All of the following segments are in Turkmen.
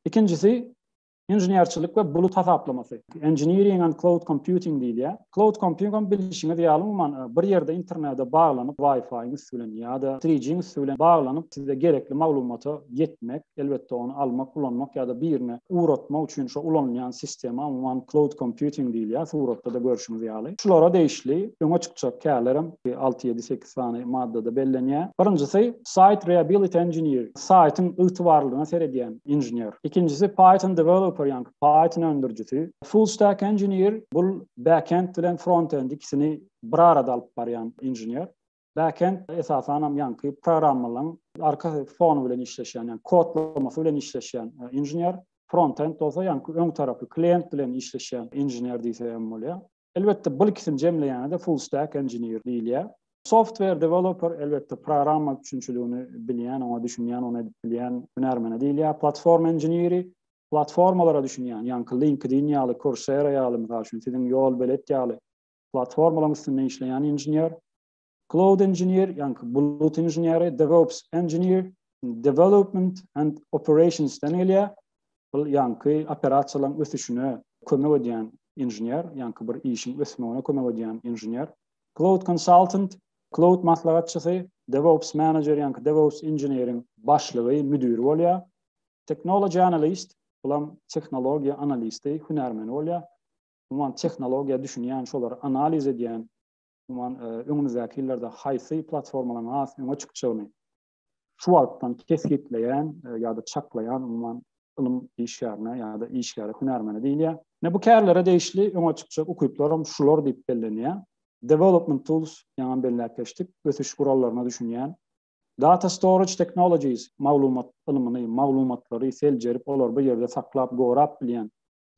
Ikinjisi inženerçilik we bulut hasaplamasy. Engineering and cloud computing diýilýär. Cloud computing bilişiňiz ýaly umuman e, bir ýerde internete baglanyp, Wi-Fi-iň üsti bilen ýa-da 3G-iň üsti bilen baglanyp, size gerekli maglumata ýetmek, elbetde ony almak, ulanmak ýa-da birine ugratmak üçin şu ulanylýan sistema umuman cloud computing diýilýär, suratda-da görşüňiz ýaly. Şulara degişli öňe çykjak kärler hem 6-7-8 sany maddada bellenýär. Birinjisi, Site Reability Engineer, saýtyň ygtybarlylygyna seredýän inžener. Ikinjisi, Python Developer, ýagny Python öndürijisi. Full Stack Engineer, bul backend bilen frontend ikisini bir arada alyp barýan inžener. Backend, esasanam ýaňky programmalaryň arka fony bilen işleşýän, ýagny kodlamasy bilen işleşýän inžener. Frontend bolsa ýaňky öň tarapy, klient bilen işleşýän inžener diýse hem bolýar. Elbetde bul ikisini jemleýände full stack engineer diýilýär. Software developer elbetde programma üçinçiligini bilýän, oňa düşünýän, ony edip bilýän hünärmene diýilýär. Platforma engineeri platformalara düşünýän, ýaňky LinkedIn ýaly, Coursera ýaly, mysal üçin siziň Ýolbelet ýaly platformalaryň üstünde işleýän inžener. Cloud Engineer, ýaňky bulut inženeri, DevOps Engineer, Development and Operations den gelýär. Bu ýaňky operasiýalaryň ösüşine kömek edýän inžener, ýaňky bir işiň ösmegine kömek edýän inžener. Cloud Consultant, Cloud maslahatçysy, DevOps Manager, ýaňky DevOps inženeriň başlygy, müdiri bolýar. Technology Analyst, bulam tehnologiýa analisti, hünärmeni bolýar. Umuman tehnologiýa düşünýän, şolary analiz edýän umuman, öňümizdäki ýyllarda haýsy platformalaryň has öňe çykjagyny şu wagtdan kesgitleýän ýa-da çaklaýan, umuman, ylym işgärine ýa-da işgäre, hünärmene diýilýär. Ine, bu kärlere degişli öňe çykjak ukyplar hem şular diýip bellenýär. Development Tools, ýaňam belläp geçdik, ösüş gurallaryna düşünýän. Data Storage Technologies, maglumat ylmyny, maglumatlary seljerip, olary bir ýerde saklap, gorap bilýän,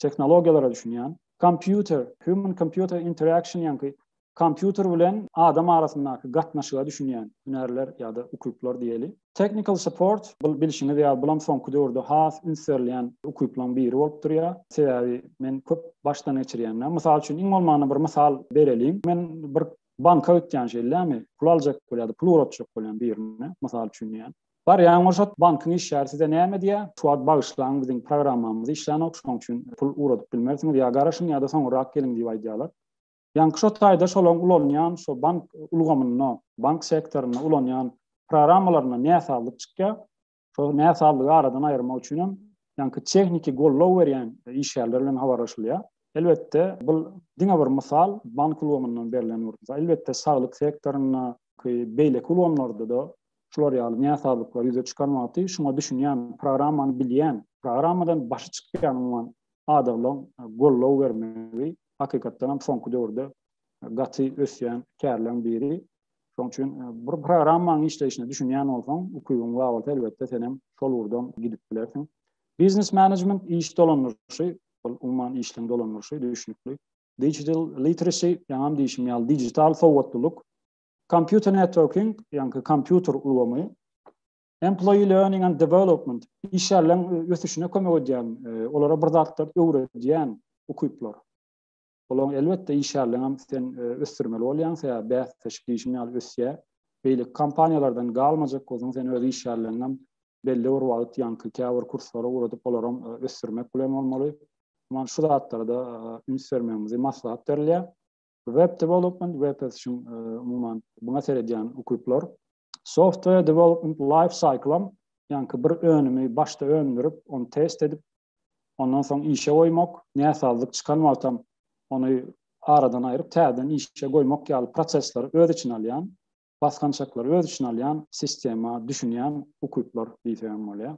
tehnologiýalara düşünýän. Kompýuter, human computer interaction ýaňky kompýuter bilen adam arasyndaky gatnaşyga düşünýän hünärler ýa-da ukyplar diýeli. Technical support, bul bilşiňiz ýaly bulam soňky döwürde has üns berilýän ukyplaň biri bolup durýar. Sebäbi men köp başdan geçirýänler. Mysal üçin iň bolmanda bir mysal bereliň. Men bir banka gitýän şeýdämi, pul aljak bolýan ýa-da pul ugratjak bolýan birine, mysal üçin diýýän. Bar ýaňy bolşat bankyň işgäri size näme diýä, şu wagt bagyşlaň biziň programmamyz işlänok şoň üçin pul ugradyp bilmersiňiz ýa garaşyň ýada soňurrak geliň diýip aýdýalar. Ýaňky şo taýda şolaň ulanýan şo bank ulgamynda, bank sektorynda ulanýan programmalarynda näsazlyk çykýa, şo näsazlygy aradan aýyrmak üçin hem ýaňky tehniki gollow berýän işgärler bilen habarlaşylýa. Elbetde bul diňe bir mysal bank ulgamyndan berlen bir elbetde saglyk sektorynda ki beýleki ulgamlarda-da şular ýaly näsazlyklary ýüze çykarmakdy. Şuňa düşünýän, programmany bilýän, programmadan başy çykýan umuman adaglaň goldaw bermegi hakykatdan hem soňky döwürde gaty ösýän kärleň biri. Şoň üçin bir programmaň işleýşine düşünýän bolsaň, ukybyň bar bolsa, elbetde sen hem şol ugurdan gidip bilersiň. Biznes management iş dolandyryşy, ol umuman işleň dolandyryşy, düşünikli. Digital literacy, ýaňam diýşim ýaly, digital sowatlylyk, Computer networking, ýagny kompýuter ulgamy, employee learning and development, işgärleriň ösüşine kömek edýän, olara bir zatlar öwredýän ukyplar. Olaň elbetde işgärleriň hem sen ösdürmeli bolýaň, sebäbi bäsdeşlik diýşim ýaly ösýär. Beýleki kompaniýalardan galmajak bolsaň, sen öz işgärleriňi hem belli bir wagt ýaňky käbir kurslara ugradyp, olary hem ösdürmek bilen bolmaly. Muňa şu zatlara-da üns bermegimizi maslahat berilýär. Web Development, web ösüşiň umuman buna seredýän ukyplar. Software Development Life Cycle, ýaňky bir önümi başda öndürip, ony test edip, ondan soň işe goýmak, näsazlyk çykan wagtam ony aradan aýryp, täzeden işe goýmak ýaly prosesleri öz içine alýan, basgançaklary öz içine alýan sistema düşünýän ukyplar diýsegem bolýar.